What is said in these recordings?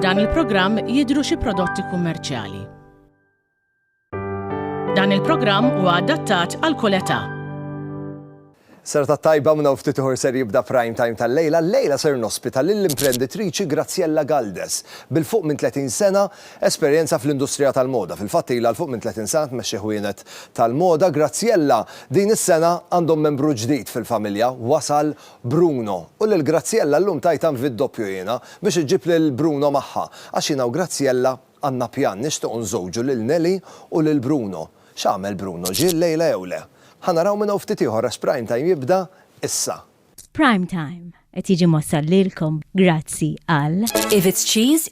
F'dan il-programm jidhru xi prodotti kummerċjali. Dan il-programm huwa adattat għal kull età. Serata tajba minna ftit uħor ser jibda prime time tal-lejla. Lejla ser nospita lill-imprenditriċi Graziella Galdes. Bil-fuq minn 30 sena, Esperjenza fl-industrija tal-moda. Fil-fatt ilha 'l fuq minn 30 sena tmexxi ħwienet tal-moda, Graziella. Din is-sena għandhom membru ġdid fil-familja, wasal Bruno. U lil Graziella llum tajt anvi d-doppju jiena, biex iġġib lil Bruno magħha. Għax jiena u Graziella għandna pjan, nixtiequ nżowġu lil Nelly u lil Bruno. X'għamel Bruno, ġie llejla jew le? Ħa naraw minn hawn ftit ieħor għax Prime Time jibda issa. Prime Time qed jiġi mwassal lilkom grazzi għal. If it's cheese,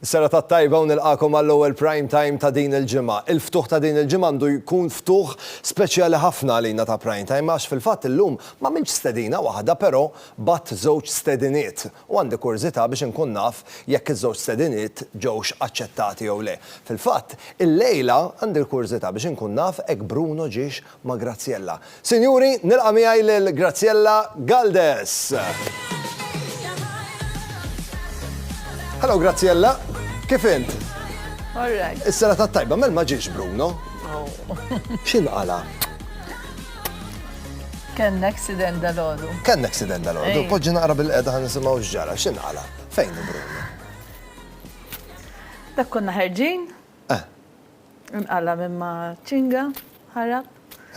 Serata t-tajba u nilqagħkom għall-ewwel Prime Time ta' din il-ġimgħa. Il-ftuħ ta' din il-ġimgħa għandu jkun ftuħ speċjali ħafna għalina ta' Prime Time għax fil-fatt illum m'għamiltx stedina waħda però bgħatt żewġ stediniet u għandi kurżità biex inkun naf jekk iż-żewġ stediniet ġewx aċċettati jew le. Fil-fatt, illejla għandi l-kurżità biex inkun naf hekk Bruno ġiex ma' Graziella. Sinjuri, nilqa' miegħi lil Graziella Galdes! Hello Graziella, kif int? All right. Is-sena tat-tajba, mel ma ġiex Bruno? X'inqala'? Kellna accident dal-għodu. Kellna accident dal-għodu, poġġi naqra bil-qeda ħan nisimgħu x'ġara, x'inqala, fejn Bruno? Dak konna ħerġin, Eh. Inqala' minn ma' ċinga, ħarab.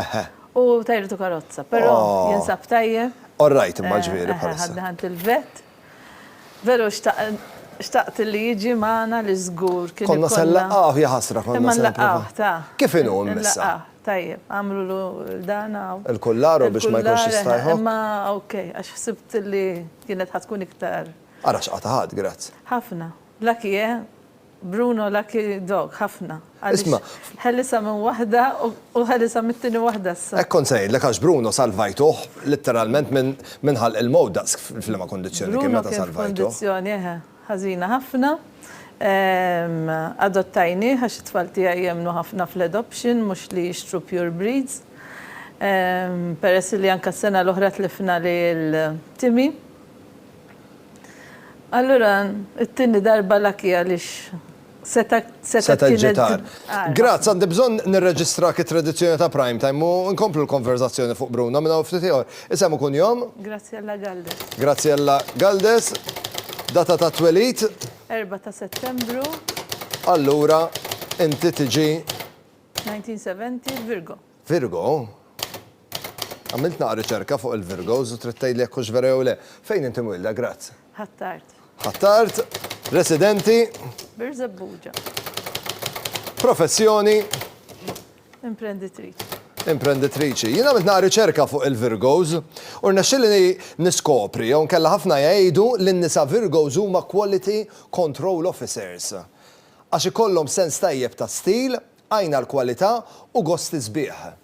Eħe. U tajritu karozza, però Oh. jinsab tajjeb. All right imma l-ġviri Eħe, bħalissa. ħadni ħadd il-vet. Veru xtaq- xtaqt li jiġi magħna li żgur kien Konna se ikollna- nlaqqgħuh, ja ħasra, konna Imma se nipprova. nlaqqgħuh, ta. Kif inhu imma issa? Nlaqqgħuh, Tajjeb, għamlulu dan hawn. Il-kullaru biex ma jkunx Il-kullar, jista' eħe, jħobb. Imma ok, għax ħsibt li kienet ħa tkun iktar. Ara x'qatgħat, grazz. Ħafna. Lucky, eh? Bruno lucky dog ħafna għaliex ħelisha minn waħda u ħelisha mit-tieni waħda issa. Hekk kont se ngħidlek għax Bruno salvajtuh litteralment minn ħalq il-mewt daqs f'liema kundizzjoni kien meta salvajtuh. Bruno kien f'kundizzjoni eħe ħażina ħafna. Adottajnieh għax it-tfal tiegħi jemmnu ħafna fl-adoption mhux li jixtru pure breeds. Peress li anke s-sena l-oħra tlifna lil Timmy. Allura t-tieni darba lucky għaliex seta' kienet. Seta' ġġi tar. Graz, għandi bżonn nirreġistrak it-tradizzjoni ta' Prime Time u nkomplu l-konverżazzjoni fuq Bruno minn hawn ftit ieħor. Isem u kunjom? Graziella Galdes. Graziella Galdes. Data ta' twelid? 4 ta' Settembru. Allura inti tiġi? 1970, Virgo. Virgo? Għamilt naqra riċerka fuq il-Virgos u trid tgħidli jekk hux vera jew le. Fejn int imwielda, Grazz? Ħ'Attard. Ħ'Attard, residenti? Birżebbuġa. Professjoni? Imprenditriċi. Imprenditriċi. Jien għamilt naqra riċerka fuq il-Virgos u rnexxielni niskopri jew inkella ħafna jgħidu li n-nisa Virgos huma quality control officers. Għax ikollhom sens tajjeb ta' stil, għajn għall-kwalità u gosti sbieħ.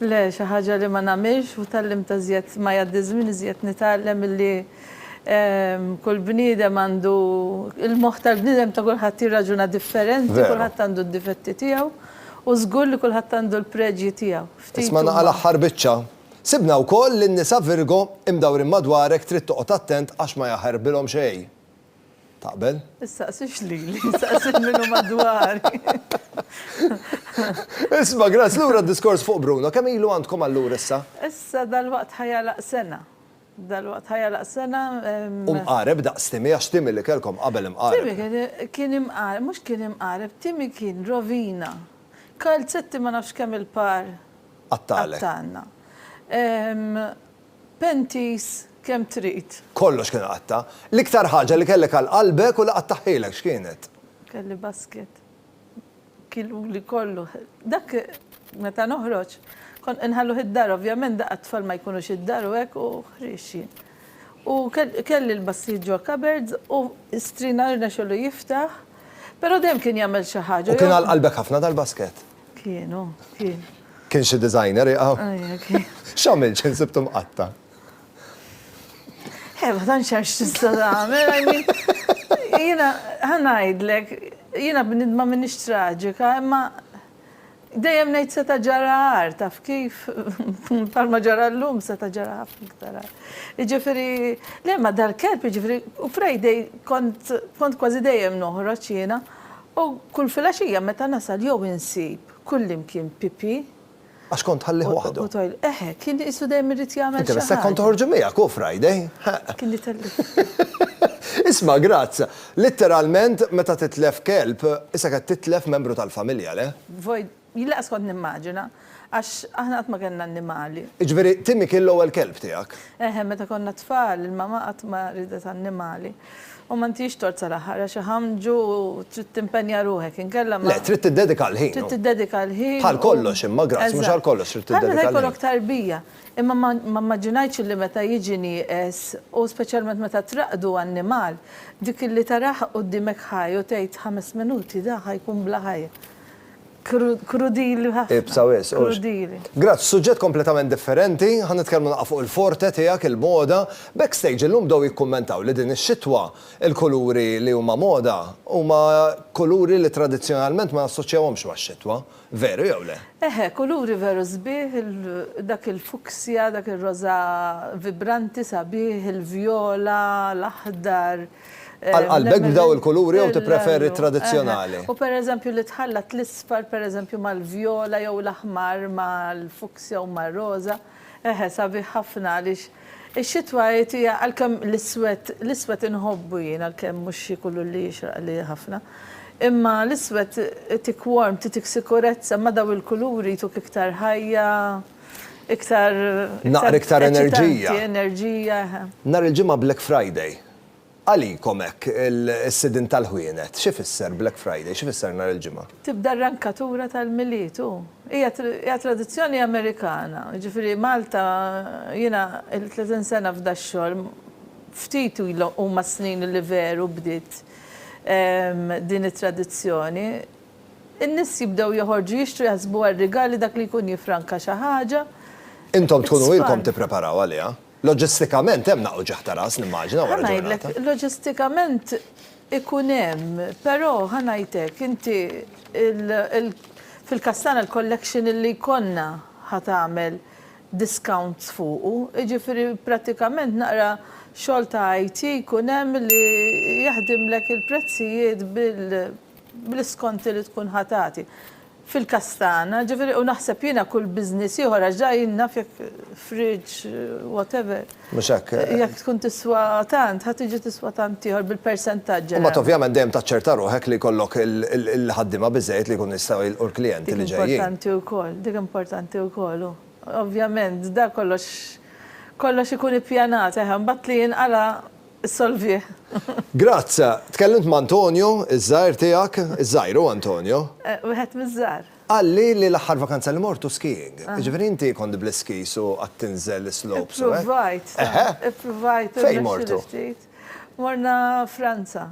Le, xi ħaġa li ma nagħmilx u tgħallimt iżjed ma jgħaddi ż-żmien iżjed nitgħallem illi kull bniedem għandu, il-moħħ tal-bniedem ta' kulħadd jirraġuna differenti, kulħadd għandu d-difetti tiegħu u żgur li kulħadd għandu l-preġji tiegħu. Ftit huma. Isma' naqa' l-aħħar biċċa. Sibna wkoll li n-nisa Virgo imdawrin madwarek trid toqgħod attent għax ma jaħarbilhom xejn. Taqbel? Issaqsix lili, saqsi lil min hu madwari. Isma', Graz, lura d-diskors fuq Bruno, kemm ilu għandkom allura issa? Issa dalwaqt ħa jagħlaq sena. Dalwaqt ħa jagħlaq sena. U mqareb daqs Timmy, għax Timmy li kellkom qabel imqareb. Timmy kien imqareb, mhux kien imqareb, Timmy kien rovina. Kalzetti ma nafx kemm il-par. Qattalek. Qattalna. Panties kemm trid. Kollox kien iqatta'. L-iktar ħaġa li kellek għal qalbek u li qattagħhielek x'kienet? Kelli basket. Kieluli kollu. Dak meta noħroġ kont inħalluh id-dar, ovvjament daqqa t-tfal ma jkunux id-dar u hekk u ħriex jien. U kelli l-bassijiet ġo cupboards u strina rnexxelu jiftaħ, però dejjem kien jagħmel xi ħaġa. U kien għal qalbek ħafna dal-basket? Kien, oh, kien. Kien xi designer iqaw? Ajja, kien. X'għamilt xi nsibtu mqatta'? Eh, ma tantx għax tista' tagħmel, I mean, jiena ħanajdlek, jiena bnidma m'iniex traġika, imma dejjem ngħid seta' ġara għar, taf kif? Palma ġara llum seta' ġara ħafna iktar għar. Jiġifieri, le ma dal-kelb, jiġifieri, u Friday kont kważi dejjem noħroġ jiena, U kull filgħaxija meta nasal jew insib kullimkien Pippi. Għax kont tħallih waħdu. U tgħidlu, eħe, kien qisu dejjem irid jagħmel xi ħaġa. Inti biss hekk kont toħorġu miegħek, hu Friday. Kien itellifni. Isma' Graz, litteralment meta titlef kelb, isek qed titlef membru tal-familja, le? Void. Jien lanqas kont nimmaġina, għax aħna qatt ma kellna annimali. Jiġifieri Timmy kien l-ewwel kelb tiegħek? Eħe, meta konna tfal, il-mama qatt ma riedet annimali. U ma ntix tort sal-aħħar, għax iħammġu u trid timpenja ruħek, inkella ma. Le, trid tiddedika l-ħin. Trid tiddedika l-ħin u. Bħal kollox imma, Grazzi, mhux għal kollox trid tiddedika l-ħin. Bħal meta jkollok tarbija. Imma ma mmaġinajtx illi meta jiġi nieqes, u speċjalment meta traqqdu annimal, dik illi tarah quddiemek ħaj u tgħid ħames minuti da ħa jkun bla ħajja. Krudili ħafna. Ibsa wis. Krudili. Grazz, suġġett kompletament differenti, ħa nitkellmu naqa' fuq il-forte tiegħek, il-moda. Backstage illum bdew jikkummentaw li din ix-xitwa l-kuluri li huma moda huma kuluri li tradizzjonalment ma nassoċjawhomx max-xitwa. Veru jew le? Eħe, kuluri veru sbieħ, dak il-fuksja, dak ir-roża vibranti sabiħ, il-vjola, l-aħdar. Għal qalbek b'daw il-kuluri jew tippreferi t-tradizzjonali? U pereżempju li tħallat l-isfar pereżempju mal-vjola jew l-aħmar mal-fuksja u mar-roża, eħe sabiħ ħafna għaliex ix-xitwa hi hija għalkemm l-iswed, l-iswed inħobbu jien għalkemm mhux xi kulur li jixraqli ħafna. Imma l-iswed itik warmth, itik sikurezza, imma daw il-kuluri jtuk iktar ħajja, Iktar. Naqra iktar enerġija. Enerġija. Nhar il-Ġimgħa Black Friday. Għalikom hekk is-sidien tal-ħwienet, xi fisser Black Friday, xi fisser nhar il-Ġimgħa? Tibda r-rankatura tal-Milied hu. Hija tradizzjoni Amerikana. Jiġifieri Malta, jiena illi 30 sena f'dax-xogħol, ftit huma s-snin li veru bdiet din it-tradizzjoni. In-nies jibdew joħorġu jixtru jaħsbu għar-rigali dak li jkun jiffranka xi ħaġa. Intom tkunu ilkom tippreparaw għaliha. Loġistikament hemm nagħqu ġieħ ta' ras nimmaġina wara ġurnata. Ħa ngħidlek, loġistikament ikun hemm, però ħa ngħidlek, inti fil-każ tagħna l-collection li jkollna ħa tagħmel discounts fuqu, jiġifieri prattikament naqra xogħol ta' IT jkun hemm li jaħdimlek il-prezzijiet bil. bl-iskonti li tkun ħa tagħti. Fil-każ tagħna, ġifieri, u naħseb jiena kull business ieħor għax ġa jien naf jekk fridge, whatever. Mhux hekk. Jekk tkun tiswa tant, ħa tiġi tiswa tant ieħor bil-persentaġġ. U mbagħad ovvjament dejjem taċċerta ruħek li jkollok il-ħaddiema biżżejjed li jkunu jistgħu jilqu l-klijenti li ġejjin. Dik importanti wkoll, dik importanti wkoll, u ovvjament dak kollox, kollox ikun ippjanat, eħe, mbagħad li jinqala' Issolvih. Graz, tkellimt ma' Antonio, iż-żgħir tiegħek, iż-żgħir hu Antonio. Wieħed miż-żgħar. Qalli li l-aħħar vakanza li mort hu skiing. Jiġifieri inti kont bl-iskis u qatt tinżel is-slopes u hekk? Ippruvajt, ippruvajt u rnexxieli ftit. Morna Franza.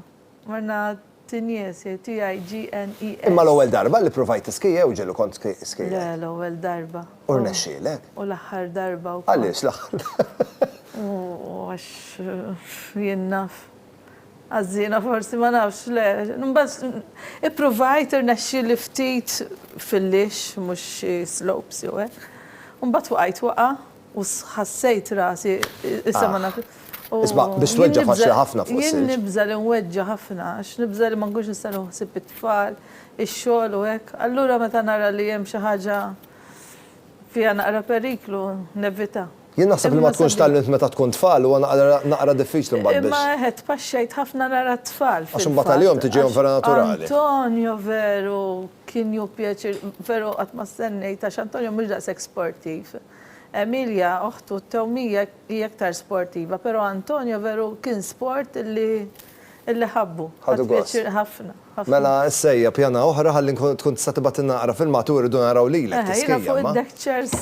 Morna Tinjesi, T-I-G-N-E-S. Imma l-ewwel darba li ppruvajt tiskija jew ġieli kont skija? Le, l-ewwel darba. U rnexxielek? U l-aħħar darba wkoll. Għaliex l-aħħar darba? Għax jien naf. Ħażina forsi, ma nafx, le. Imbagħad ippruvajt, irnexxieli ftit fil-lix, mhux xi slopes jew hekk. U mbagħad waqajt waqgħa U ħassejt rasi, issa ma naf. Isma', biex tweġġa' faċli ħafna fuq is-silġ. Jien nibża' li nweġġa' ħafna, għax nibża' li ma nkunx nista' nieħu ħsieb it-tfal, ix-xogħol u hekk. Allura meta nara li hemm xi ħaġa fiha naqra periklu, nevita. Jien naħseb li ma tkunx tgħallimt meta tkun tfal, huwa naqra diffiċli mbagħad biex. Imma eħe tpaxxejt ħafna nara t-tfal fil-fatt. Għax imbagħad għalihom tiġihom vera naturali. Antonio veru kien jieħu pjaċir, veru qatt ma stennejt għax Antonio mhux daqshekk sportiv. Emilia, oħtu, t-tewmija hi iktar sportiva, pero' Antonio veru kien sport li ħabbu. Ħadu gost. Ħadt pjaċir ħafna, ħafna. Mela issa ejja pjana oħra ħalli tkun tista' tibgħatilna naqra filmat u rridu naraw lilek tiskija, ma. Eħe, jiena fuq id-deck chairs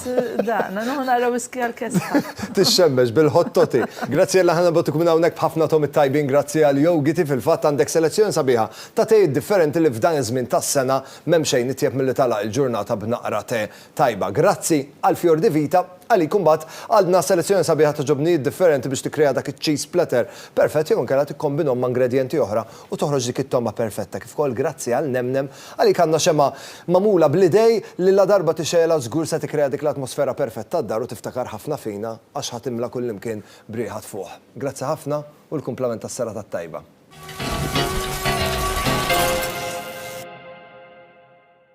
daqna, nieħu naqra whisky għall-kesħa. Tixxemmex bil-hot toti. Graziella ħa nibgħatuk minn hawnhekk b'ħafna tomi t-tajbin grazzi għal Yogiti, fil-fatt għandek selezzjoni sabiħa ta' tejiet differenti li f'dan iż-żmien tas-sena m'hemm xejn itjeb milli tagħlaq il-ġurnata b'naqra tè tajba. Grazzi għal Fior di Vita, għalik imbagħad għadna selezzjoni sabiħa ta' ġobnijiet differenti biex tikkrea dak iċ-cheese splatter perfett jew inkella tikkombinhom ma' ingredjenti oħra u toħroġ dik it-togħma perfetta. Kif ukoll grazzi għal Nemnem, għalik għandna xemgħa magħmula bl-idej li ladarba tixegħelha żgur se tikkrea dik l-atmosfera perfett tad-dar u tiftakar ħafna fina għax ħa timla' kullimkien b'riħa tfuħ. Grazzi ħafna u l-kumplament tas-serata t-tajba.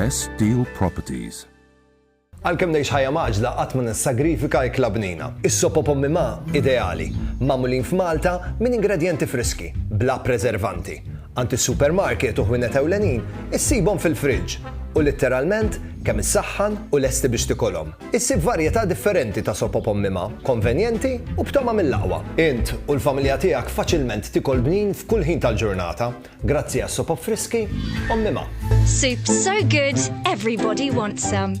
Best Deal Properties Għalkemm ngħix ħajja maġla qatt ma nissagrifika jekk labnina. Is-sopo pommi ma ideali, magħmulin f'Malta minn ingredjenti friski, bla preservanti. Għand is-supermarket u ħwienet ewlenin issibhom fil-friġġ u litteralment kemm issaħħan u lesti biex tikolhom. Issib varjetà differenti ta' soppa b'ommimha, konvenjenti u b'togħma mill-aqwa. Int u l-familja tiegħek faċilment tikol bnin f'kull ħin tal-ġurnata grazzi għas-sopop friski ommimha. Soup so good everybody wants some.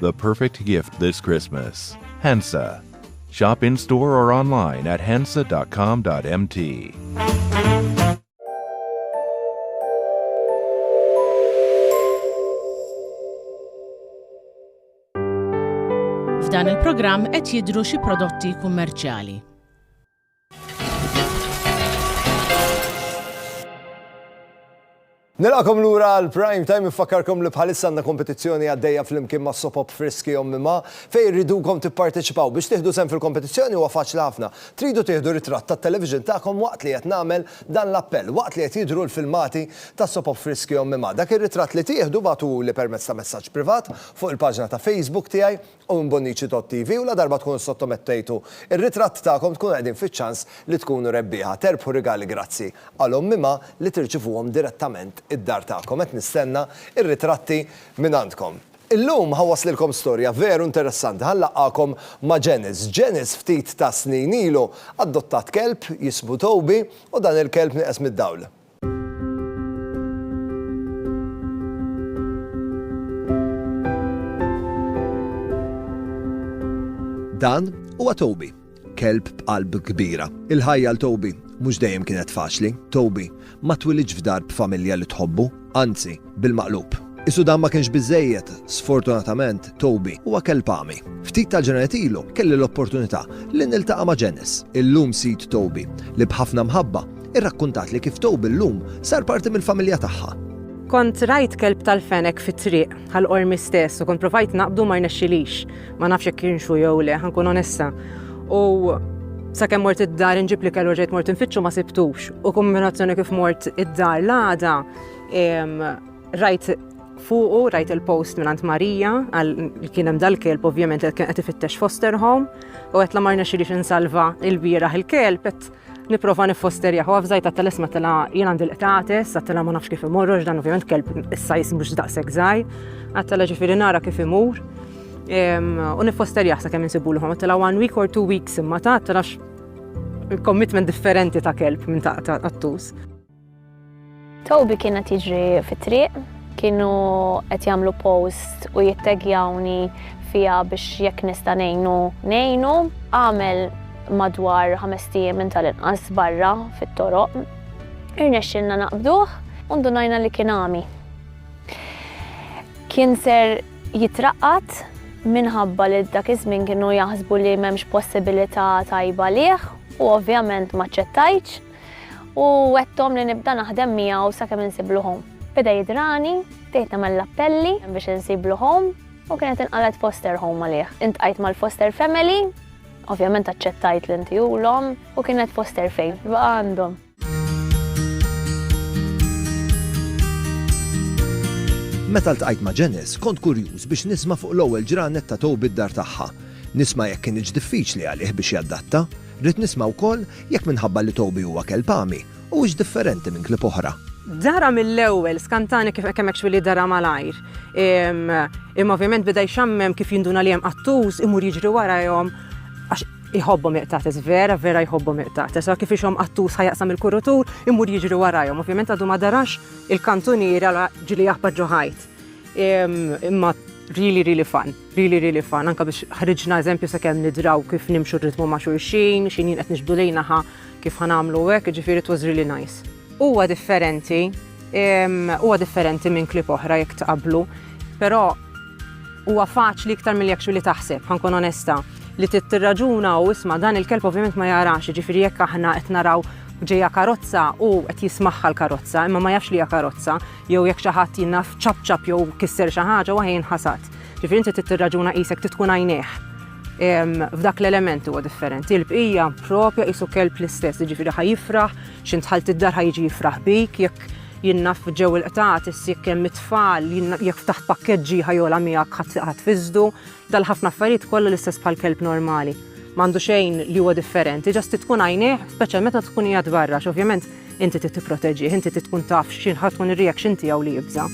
The perfect gift this Christmas. Hensa. Shop in store or online at hensa.com.mt. F'dan il-programm qed jidru xi prodotti kummerċjali. Nilqakom lura għal prime time ifakkarkom li bħalissa għandna kompetizzjoni għaddejja flimkien ma' sopop friski ommima fejn irridukom tipparteċipaw biex tieħdu sem fil-kompetizzjoni huwa faċli ħafna. Tridu tieħdu ritratt tat-television tagħkom waqt li qed nagħmel dan l-appell, waqt li qed jidhru l-filmati ta' sopop friski ommima. Dak ir-ritratt li tieħdu bagħtuhuli permezz ta' messaġġ privat fuq il-paġna ta' Facebook tiegħi u minn Bonnici Tot TV u ladarba tkunu ssottomettejtu r-ritratt tagħkom tkunu qegħdin fiċ-ċans li tkunu rebbieħa. Terbħu rigali Grazzi għal Ommima li tirċivuhom direttament id-dar tagħkom. Qed nistenna r-ritratti mingħandkom. Illum ħa waslilkom storja veru interessanti. Ħa nlaqqagħkom ma' Janice. Janice ftit ta' snin ilu adottat kelb jismu Toby u dan il-kelb nieqes mid-dawl. Dan huwa Toby, kelb b'qalb kbira. Il-ħajja l Toby mhux dejjem kienet faċli. Toby ma twilidx f'dar b'familja li tħobbu, anzi, Bil-maqlub. Qisu dan ma kienx biżżejjed, sfortunatament, Toby huwa kelb għami. Ftit tal-ġranet ilu kelli l-opportunità li niltaqa' ma' Janice, illum sid Toby, li b'ħafna mħabba irrakkuntatli kif Toby llum sar parti mill-familja tagħha. Kont rajt kelb tal-fenek fit-triq, għal qormi stess, u kont provajt naqbdu ma rnexxilix. Ma nafx jekk kienx hu jew le, ħankun onesta. U sakemm mort id-dar inġib li kellu ġejt mort infittxu ma sibtux. U kombinazzjoni kif mort id-dar l-għada, Rajt fuqu, rajt il-post minn Ant Marija, għal kien hemm dal-kelb ovvjament qed kien qed ifittex foster home, u qed la marna xirix insalva il-bieraħ il-kelb qed nipprova niffosterja hu f'żajt għat telesma tela jien għandi l-qtates, għat tela ma nafx kif imorrox dan ovvjament kelb issa jismux daqshekk żgħir, għat tela ġifieri nara kif imur. U niffosterja sa kemm insibu l-ħom, tela one week or two weeks imma ta' tela commitment differenti ta' kelb minn ta' għattus. Toby kien qed jiġri fit-triq, kienu qed jagħmlu post u jittegjawni fija biex jekk nista' ngħinu ngħinu. Għamel madwar ħames ijiem minn tal-inqas barra fit-toroq. Irnexxilna naqbduh u ndunajna li kien għami. Kien ser jitraqqat minħabba li dak iż-żmien kienu jaħsbu li m'hemmx possibilità tajba lih u ovvjament ma ċċettajtx. u wettom li nibda naħdem miegħu sakemm insiblu home. Beda jidrani, bdejt nagħmel l-appelli biex insiblu home u kienet inqalet foster home għalih. Intqajt mal-foster family, ovvjament aċċettajt li inti ulhom u kienet foster fejn, baqa' għandhom. Meta ltqajt ma' Janice, kont kurjuż biex nisma' fuq l-ewwel ġranet ta' Toby d-dar tagħha. Nisma' jekk kienx diffiċli għalih biex jaddatta, Rrid nisma' wkoll jekk minħabba li Toby huwa kelb għami, huwiex differenti minn klieb oħra. Dara mill-ewwel, skantani kif kemm hekk li dara malajr. Imma ovvjament beda jxammem kif jinduna li hemm qattus, imur jiġri warajhom għax iħobbhom iqtates, vera, vera jħobbhom iqtates. Sa kif ixhom qattus ħajaqsam il-kurutur, imur jiġri warajhom. Ovvjament għadu ma darax il-kantuniera ġili jaħbar ġo ħajt. Imma really, really fun. Really really fun, anke biex ħriġna eżempju sakemm nidraw kif nimxu r-ritmu ma' xulxin, xi jien qed nixbdu lejn aha kif ħa nagħmlu hekk, jiġifieri it was really nice. Huwa differenti, huwa differenti minn clip oħra jekk tqabblu, però huwa faċli iktar milli actually taħseb, ħa nkun onesta, li trid tirraġuna u isma' dan il-kelb ovvjament ma jarax, jiġifieri jekk aħna qed naraw ġejja karozza u qed jismagħha l-karozza imma ma jafx li hija karozza jew jekk xi ħadd jinnaf ċapċap jew kisser xi ħaġa u aħ jinħasad. Ġifieri inti trid tirraġuna qisek trid tkun għajnejh. F'dak l-element huwa differenti. Il-bqija propja qisu kelb l-istess, jiġifieri ħaj jifraħ, xi dħalt id-dar ħaj jiġi jifraħ bik, jekk jinnaf ġew il-qtat, jekk hemm it-tfal, jekk ftaħt pakkeġġi ħajola miegħek ħadd fiżdu, dal-ħafna affarijiet kollha l-istess bħal kelb normali. M'għandu xejn li huwa differenti, ġast tkun għajnejh, speċjalment meta tkun qiegħed barra, x'ovvjament Inti trid tipproteġih, inti trid tkun taf x'in ħa tkun ir-reaction tiegħu li jibża'.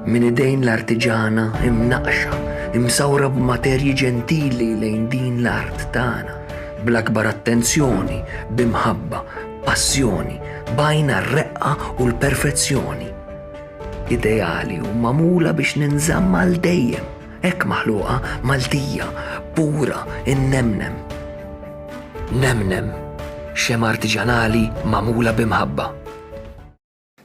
minn idejn l-artiġana imnaqxa, imsawra b'materji ġentili lejn din l-art tagħna, bl-akbar attenzjoni, bimħabba, passjoni, bajna r-reqqa u l-perfezzjoni ideali u magħmula biex ninżamm għal dejjem, hekk maħluqa Maltija, pura, innemnem. Nemnem, xem artiġanali magħmula b'imħabba.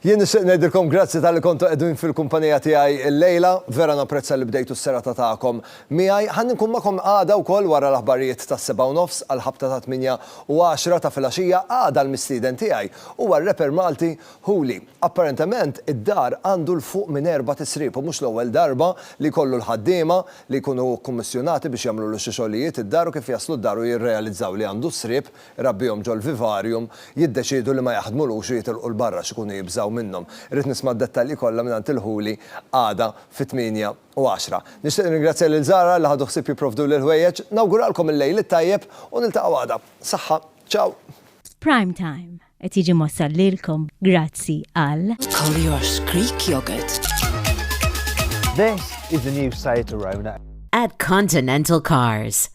Jien nixtieq ngħidilkom grazzi tal-li kontu qegħdin fil-kumpanija tiegħi l-lejla, vera napprezza li bdejtu s-serata tagħkom miegħi. Ħa nkun magħkom għada wkoll wara l-aħbarijiet tas-sebgħa u nofs għall-ħabta tat-tmienja u għaxra ta' filgħaxija. Għada l-mistieden tiegħi huwa r-rapper Malti Ħuli, Apparentement, id-dar għandu 'l fuq minn erbat isriep u mhux l-ewwel darba li jkollu l-ħaddiema li jkunu kkummissjonati biex jagħmlulu xi xogħlijiet id-dar u kif jaslu d-dar u jirrealizzaw li għandu sriep irabbihom ġol-vivarium jiddeċiedu li ma jaħdmulux u jitilqu 'l barra x'ikunu jibżgħu minnhom. Irrid nisma' d-dettalji kollha mingħand il-Ħuli għada fit-tmienja u għaxra. Nixtieq nirringrazzja lil Zahra li ħadu ħsieb jipprovduli l-ħwejjeġ. Nawguralkom il-Lejl it-tajjeb u niltaqgħu għada. Saħħa. Ciao. F'Prime Time. Qed jiġi mwassal lilkom grazzi għal. Collier's Creek Yogurt. This is the new Seat Arona. At Continental Cars.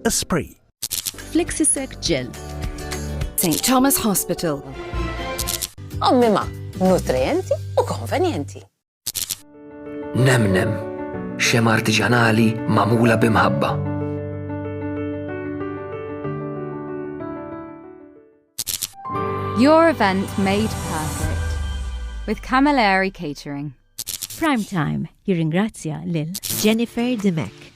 Esprit. Flexisec Gel. St. Thomas Hospital. Ommima, nutrienti u konvenienti. Nemnem, xem artiġanali magħmula b'imħabba. Your event made perfect with Camilleri Catering. Prime Time jirringrazzja lil Jennifer Dimek.